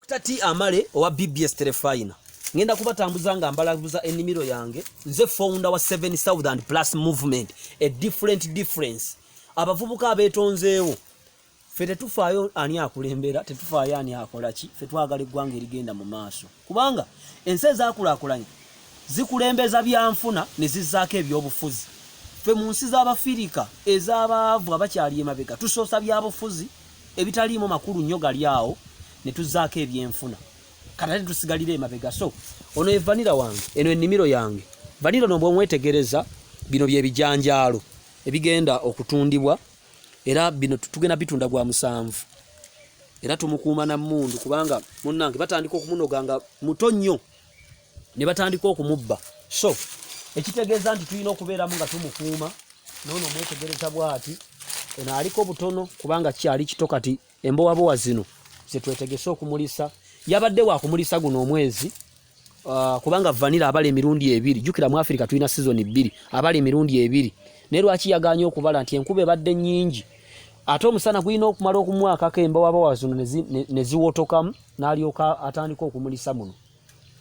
Dokita T Amale owa BBS Terefayina ngenda kubatambuza nga mbalabuza ennimiro yange nze founder wa seven southern plus movement a different difference abavubuka abeetonzeewo fe tetufaayo ani akulembera tetufaayo ani akola ki fe twagala eggwanga erigenda mu maaso kubanga ensi ezakulakulanye zikulembeza byanfuna ne zizzaako ebyobufuzi fe mu nsi z'abafirika ez'abaavu abakyali emabega tusoosa byabufuzi ebitaliimu makulu nnyo gali awo ne tuzzaako ebyenfuna kati ate tusigalira emabega so ono ye vanira wange eno ennimiro yange vanira no bwemwetegereza bino bye bijanjaalo ebigenda okutundibwa era bino tugenda bitunda gwa musanvu era tumukuuma na mmundu kubanga munnange batandika okumunoga nga muto nnyo ne batandika okumubba so ekitegeeza nti tulina okubeeramu nga tumukuuma noono omwetegereza bwati eno aliko butono kubanga kyali kito kati embowabowa zino zetwetegese okumulisa yabadde wakumulisa guno omwezi uh, kubanga vanira abala emirundi ebiri jukira mu afirika tulina sizoni bbiri abala emirundi ebiri naye lwaki yaganye okubala nti enkuba ebadde nyingi ate omusana gulina okumala okumwakako embowabowa zino neziwotokamu nalyoka atandika okumulisa muno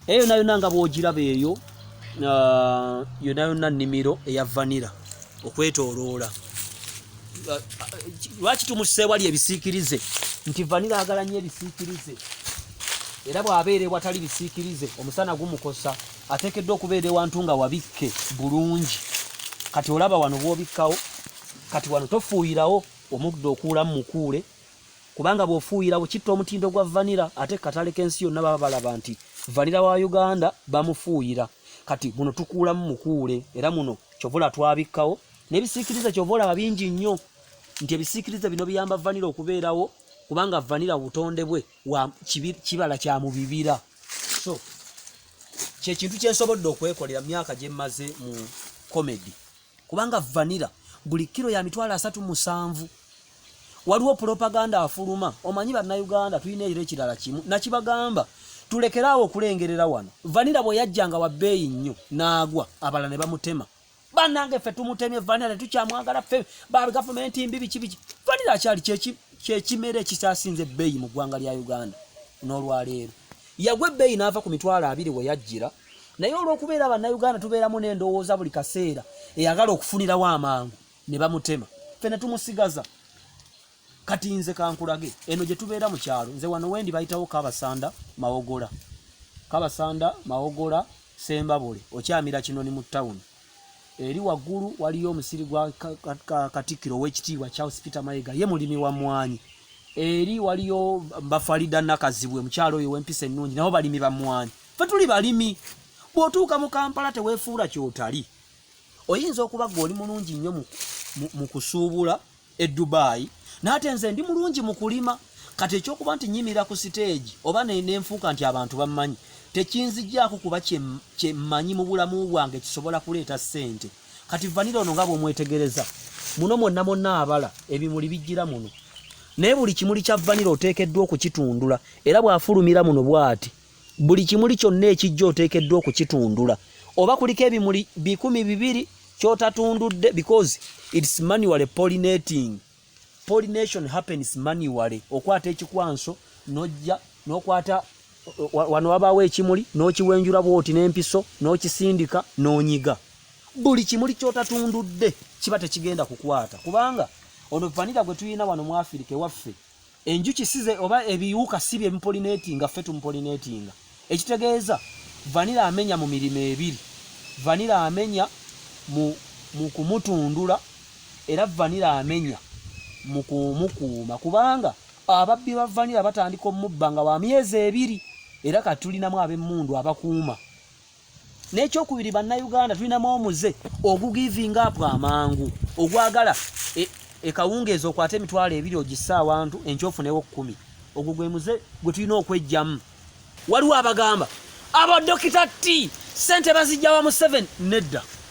eyo nayo nanga bwogiraba eyo uh, yona yona nimiro eya vanira okwetoloola uh, uh, lwaki tumuseewali ebisiikirize nti vanira agala nyo ebisiikirize era bw'abeera ewatali bisiikirize omusana gumukosa ateekeddwa okubeera ewantu nga wabikke bulungi kati olaba wano bw'obikkawo kati wano tofuuyirawo omuddo okuulamu mukuule kubanga bw'ofuuyirawo kitta omutindo gwa vanira ate katale k'ensi yonna baba balaba nti vanira wa uganda bamufuuyira kati muno tukuulamu mukuule era muno kyovola twabikkawo n'ebisiikiriza kyova olaba bingi nnyo nti ebisiikiriza bino biyamba vanira okubeerawo kubanga vanira butonde bwe kibala kya mu bibira so kyekintu kyensobodde okwekolera myaka gyemmaze mu comedy kubanga vanira buli kiro ya mitwalo asatu musanvu waliwo propaganda afuluma omanyi bannayuganda tulina ekiro ekirala kimu nakibagamba tulekeraawo okulengerera wano vanira bwe yajjanga wa bbeeyi nnyo n'agwa abala ne bamutema banange ffe tumutemye vanira tetukyamwagala ffe ba gavumenti mbi biki biki vanira akyali kyekimera ekikyasinze ebbeeyi mu ggwanga lya uganda n'olwaleero yagwa ebbeeyi n'ava ku mitwalo abiri we yajjira naye olw'okubeera bannayuganda tubeeramu n'endowooza buli kaseera eyagala okufunirawo amangu ne bamutema ffe ne tumusigaza kati nze kankulage eno gye tubeera mu kyalo nze wano wendi bayitawo kabasanda mawogola kabasanda mawogola sembabule okyamira kinoni mu tawuni eri waggulu waliyo omusiri gwa katikkiro ow'ekitiibwa charles peter mayega ye mulimi wa mwanyi eri waliyo bafalida nakazibwe mukyalo oyo wempisa ennungi nabo balimi ba mwanyi fe tuli balimi bwotuuka mu kampala tewefuula kyotali oyinza okuba gwe oli mulungi nnyo mu kusuubula e dubayi naate nze ndi mulungi mu kulima kati ekyokuba nti nyimira ku siteegi oba nenfuuka nti abantu bammanyi tekinzijaako kuba kyemmanyi mu bulamu bwange kisobola kuleeta ssente kati vanira ono nga bwomwetegereza muno mwonna mwonna abala ebimuli bijjira muno naye buli kimuli kya vanira oteekeddwa okukitundula era bw'afulumira muno bw'ati buli kimuli kyonna ekijja oteekeddwa okukitundula oba kuliko ebimuli bikumi bibiri kyotatundudde because its manual pollinating pollination happens manual okwata ekikwanso nojja nokwata wano wabaawo ekimuli n'okiwenjula bwoti n'empiso n'okisindika n'onyiga buli kimuli kyotatundudde kiba tekigenda kukwata kubanga ono vanira gwe tulina wano mu afirika ewaffe enjuki size oba ebiwuka si bye bipolineetinga ffe tumupolineetinga ekitegeeza vanira amenya mu mirimo ebiri vanira amenya mu, mu kumutundula era vanira amenya mu kumukuuma kubanga ababbi ba vanira batandika omubba nga wa myezi ebiri era kati tulinamu ab'emmundu abakuuma nekyokubiri bannayuganda tulinamu omuze ogugiving up amangu ogwagala e, ekawungeezi okwata emitwalo ebiri ogisse awantu enkyofunewo kumi ogwo gwe muze gwe tulina okwejjamu waliwo abagamba abadokita ti sente bazijjawa mu 7 nedda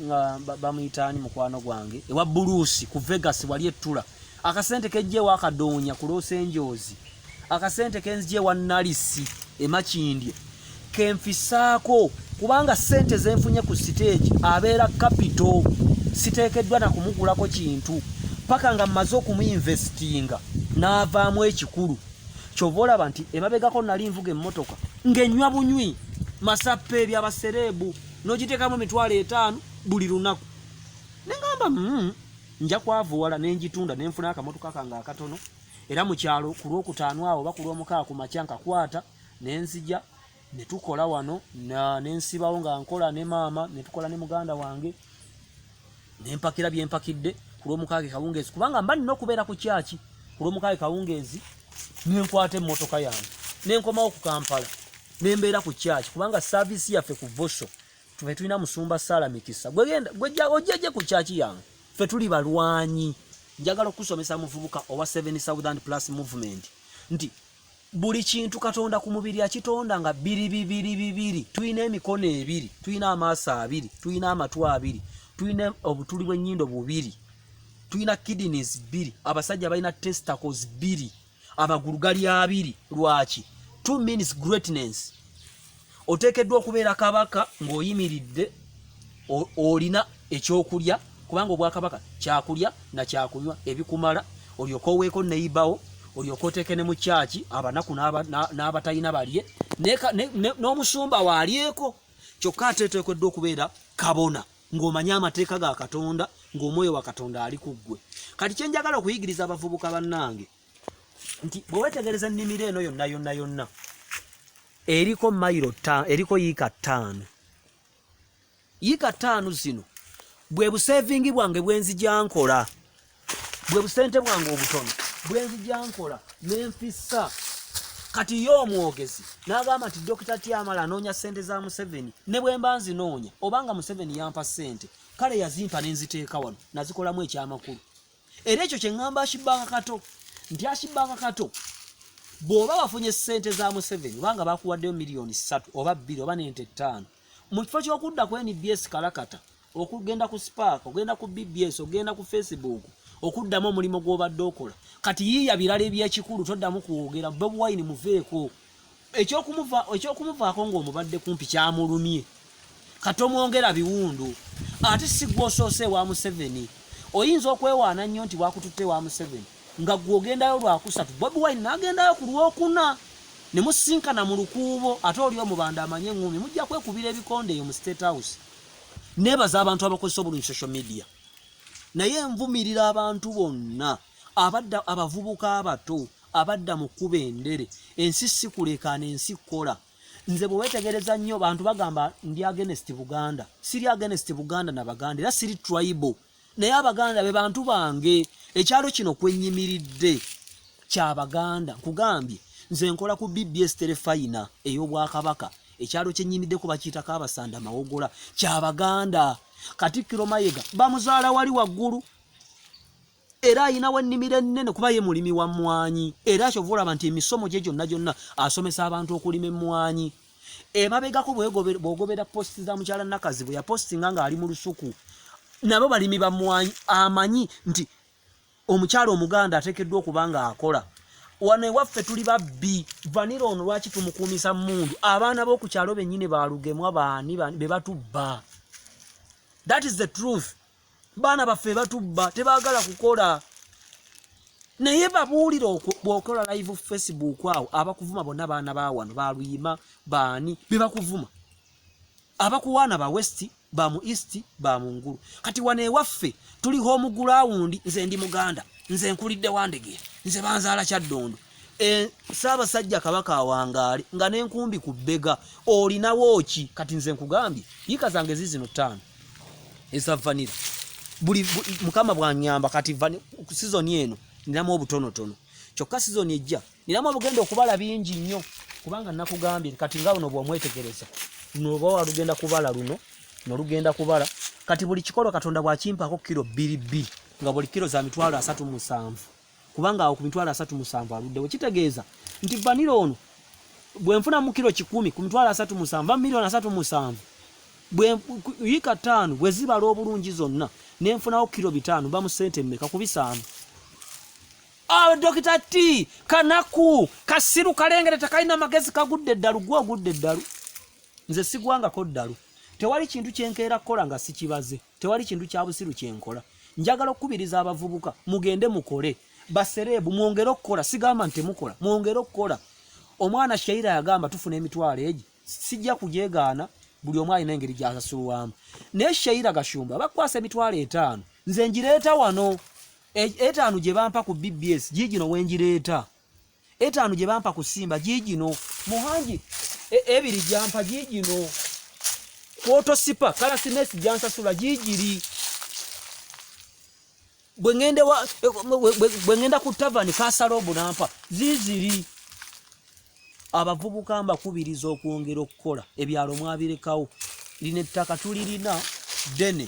nga bamuyita ani mukwano gwange ewa buluusi ku vegas wali ettula akasente kejjeewo akadoonya kuloosa enjoozi akasente kenzija ewa nalisi emakindye kenfisaako kubanga sente zenfunye ku siteegi abeera kapito siteekeddwa na kumugulako kintu paka nga mmaze okumuinvestinga n'avaamu ekikulu kyova olaba nti emabegako nali nvuga emmotoka ng'enywa bunywi masappa ebyabasereebu nogitekamu emitwalo etaano buli lunaku nengamba mm, nja kwavuwala nenjitunda nenfuna akamotoka kange akatono era mukyalo ku lwokutaano awo oba ku lwomukaa ku makya nkakwata nenzija netukola wano nensibawo nga nkola ne maama netukola ne muganda wange nempakira byempakidde ku lwomukaaga kawungeezi kubanga mba nina okubeera ku kyaki ku lwomukaaga kawungeezi nenkwata emmotoka yange nenkomawo ku kampala nembeera ku kyaki kubanga saaviisi yaffe ku voso fe tulina musumba saala mikisa gwejjaje ku kyaki yange fe tuli balwanyi njagala okusomesa muvubuka owa seven southern plus movement nti buli kintu katonda ku mubiri akitonda nga biri bibiri bibiri tulina emikono ebiri tulina amaaso abiri tulina amatu abiri tulina obutuli bw'ennyindo bubiri tulina kidneys bbiri abasajja balina testicles bbiri amagulu gali abiri lwaki two means greatness oteekeddwa okubeera kabaka ng'oyimiridde olina ekyokulya kubanga obwakabaka kyakulya na kyakunywa ebikumala olyoka oweeko neyibawo olyoka oteeke ne mu kyaki abanaku n'abatalina balye n'omusumba waalyeko kyokka ate eteekeddwa okubeera kabona ng'omanye amateeka ga katonda ng'omwoyo wa katonda ali ku ggwe kati kye njagala okuyigiriza abavubuka bannange nti bwewetegereza ennimiro eno yonna yonna yonna eriko mayiro eriko yiika ttaano yiika ttaano zino bwe buseevingi bwange bwenzijankola bwe busente bwange obutono bwenzijankola nenfissa kati ye omwogezi n'agamba nti dokita tyamala anoonya ssente za museveni ne bwe mba nzinoonya obanga museveni yampa ssente kale yazimpa ne nziteeka wano nazikolamu ekyamakulu era ekyo kye ŋŋamba akibanga kato nti akibanga kato bw'oba wafunye ssente za museveni obanga bakuwaddeyo miliyoni ssatu oba bbiri oba n'ente ttaano mu kifo ky'okudda ku nbs kalakata okugenda ku spark ogenda ku bbs ogenda ku facebook okuddamu omulimu gw'obadde okola kati yiiya birala ebyekikulu toddamu kwogera bobi wine muveeko ekyokumuvaako ng'omubadde kumpi kyamulumye katomwongera biwundu ate sigwa osoose ewa museveni oyinza okwewaana nnyo nti wakututte ewa museveni nga gwe ogendayo lwakusatu bobi wine nagendayo ku lwokuna ne musinkana mu lukuubo ate oli omubanda amanye eŋŋumi mujja kwekubira ebikonde eyo mu state house nebaza abantu abakozesa obulungi social media naye nvumirira abantu bonna abadda abavubuka abato abadda mu kkuba endere ensi si kulekaana ensi kkola nze bwe weetegereza nnyo bantu bagamba ndi agenest buganda siri agenest buganda na baganda era siri tribo naye abaganda be bantu bange ekyalo kino kwennyimiridde kya baganda nkugambye nze nkola ku bbs terefayina ey'obwakabaka ekyalo kyennyimiddeko bakiyitako abasanda mawogola kya baganda katikkiro mayega bamuzaala wali waggulu era ayinawo ennimiro ennene kuba ye mulimi wa mmwanyi era akyova olaba nti emisomo gye gyonna gyonna asomesa abantu okulima emmwanyi emabegako bwogobera posti za mukyala nakazi bwe yapostinga ng'ali mu lusuku nabo balimi ba mmwanyi amanyi nti omukyala omuganda ateekeddwa okuba ng'akola wano ewaffe tuli babbi vanira ono lwaki tumukuumisa mundu abaana b'oku kyalo bennyini balugemwa baani be batubba that is the truth baana baffe batubba tebagala kukola naye babuulire bwokola live facebook awo abakuvuma bonna baana bawano baluyima baani bebakuvuma abakuwaana ba west ba mu east ba mu ngulu kati wano ewaffe tuli home ground nze ndi muganda nze nkulidde wandege nze banzaala kyaddondo Eh, Ssaabasajja Kabaka awangaale nga n'enkumbi ku bbega olinawo ki kati nze nkugambye yiika zange zizino ttaano eza vanira buli mukama bwanyamba kati sizoni eno ninamu obutonotono kyokka sizoni ejja ninamu obugenda okubala bingi nnyo kubanga nakugambye kati nga luno bwomwetegereza noba walugenda kubala luno nolugenda kubala kati buli kikolo katonda bwakimpako kiro bbiri bbiri nga buli kiro za mitwalo asatu musanvu kubanga awo ku mitwalo asatu musanvu aluddewo kitegeeza nti vanira ono bwenfuna mu kiro kikumi ku mitwalo asatu musanvu a miliyoni asatu musanvu yiika ttaano bwe zibala obulungi zonna nenfunawo kiro bitaano bamu sente mmeka ku bisaano awo ah, dokita ti kanaku kasiru kalengere tekalina magezi kagudde eddalu gwe ogudde eddalu nze sigwangako ddalu tewali kintu kyenkeera kukola nga sikibaze tewali kintu kya busiru kye nkola njagala okukubiriza abavubuka mugende mukole basereebu mwongere okukola sigamba nti temukola mwongere okukola omwana shaira yagamba tufuna emitwalo egi sijja kugyegaana buli omu alina engeri gyasasulwamu naye shaira gashumba bakwasa emitwalo etaano nze ngireeta wano e, etaano gye bampa ku bbs giigino wengireeta etaano gye bampa ku simba giigino muhangi e, ebiri gyampa giigino kwotosipa kalasinesi gyansasula giigiri bwe ŋŋenda ku tavani kasala obunampa ziiziri abavubuka mbakubiriza okwongera okukola ebyalo mwabirekawo lino ettaka tulirina ddene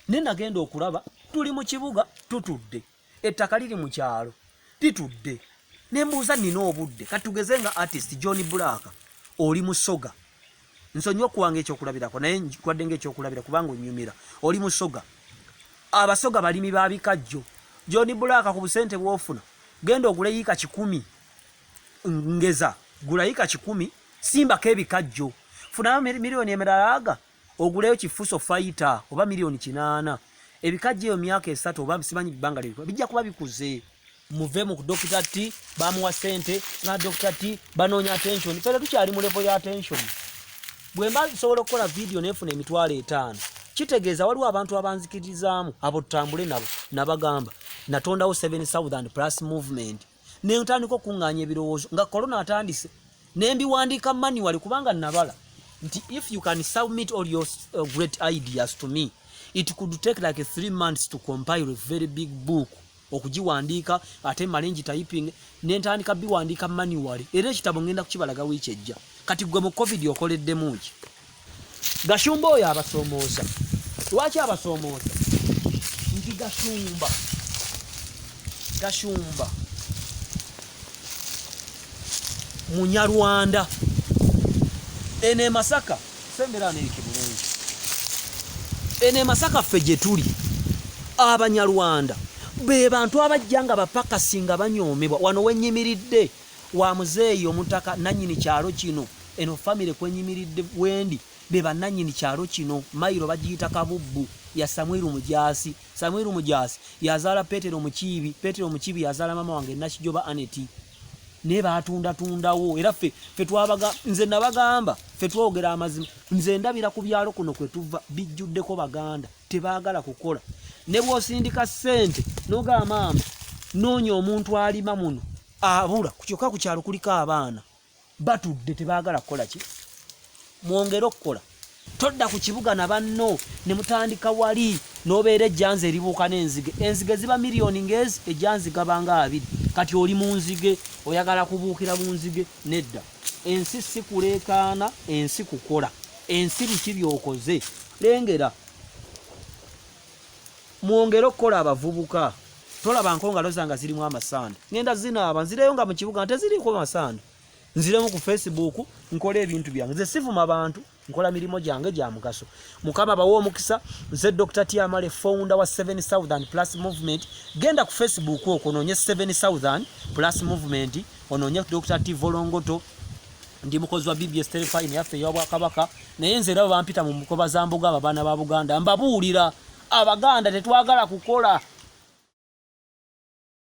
naye nagenda okulaba tuli mu kibuga tutudde ettaka liri mu kyalo litudde ne mbuuza nina obudde kati tugeze nga artist john black oli musoga nsonyi okuwanga ekyokulabirako naye nkwadde nga ekyokulabira kubanga onyumira oli musoga abasoga balimi ba bikajjo john black ku busente bwofuna genda ogule yiika kikumi ngeza gula yiika kikumi simbako ebikajjo funayo miliyoni emiralaaga oguleyo kifuso fighter oba milioni kinaana ebikajja eyo myaka esatu oba simanyi bbanga lyebikuba bijja kuba bikuze muve mu dokita t bamuwa sente nga dokita t banoonya attention fere tukyali mu levo ya attention bwemba nsobola okukola vidiyo nefuna emitwalo etaano kitegeeza waliwo abantu abanzikirizaamu abo tutambule nabo nabagamba natondawo 7 southern plus movement ne ntandika okuŋŋaanya ebirowoozo nga kolona atandise ne mbiwandiika manuwali kubanga nabala nti if you can submit all your uh, great ideas to me it could take like three months to compile a very big book okugiwandiika ate male ngitayiping ne ntandika biwandiika manuwali era ekitabo ŋŋenda kukibalaga wiiki ejja kati gwe mu covid okoleddemu ki Gashumba oyo abasoomooza. Lwaki abasoomooza? Nti Gashumba, Gashumba Munyarwanda. Eno e Masaka, sembera neerike bulungi. Eno e Masaka ffe gye tuli, Abanyarwanda be bantu abajja nga bapakasi nga banyoomebwa. Wano we nnyimiridde. wa muzeeyi omutaka nanyini kyalo kino eno family kwenyimiridde wendi bebananyini kyalo kino mailo bagiyita kabubbu ya samwiru mujaasi samwiru mujaasi yazaala petero mukiibi petero mukiibi yazaala mama wange nakijoba aneti naye batundatundawo era fe fe twabaga nze nabagamba fe twogera amazima nze ndabira ku byalo kuno kwe tuva bijjuddeko baganda tebaagala kukola ne bwosindika ssente nogamba maama noonya omuntu alima muno abula kukyoka kukyalo kuliko abaana batudde tebagala kukola ki mwongere okukola todda ku kibuga na banno ne mutandika wali n'obeera ejjanzi eribuuka n'enzige enzige ziba miliyoni ng'ezi ejjanzi gabanga abiri kati oli mu nzige oyagala kubuukira mu nzige nedda ensi si kuleekaana ensi kukola ensi biki byokoze lengera Mwongere okukola abavubuka. Tolaba nko ngalo zanga zirimu amasanda. Ngenda zinaaba nzireyo nga mu kibuga nte ziriko masanda. Nziremu ku Facebook nkola ebintu byange. Nze sivuma bantu nkola mirimo gyange gya mugaso. Mukama bawo omukisa nze Dr. Tiamale founder wa Seven Southern Plus Movement. Genda ku Facebook okononye Seven Southern Plus Movement ononye Dr. Tivolongoto. ndi mukozi wa bbs terefayini yaffe eyobwakabaka naye nze era bampita mu mukoba za mbuga abo abaana ba buganda mbabuulira abaganda tetwagala kukola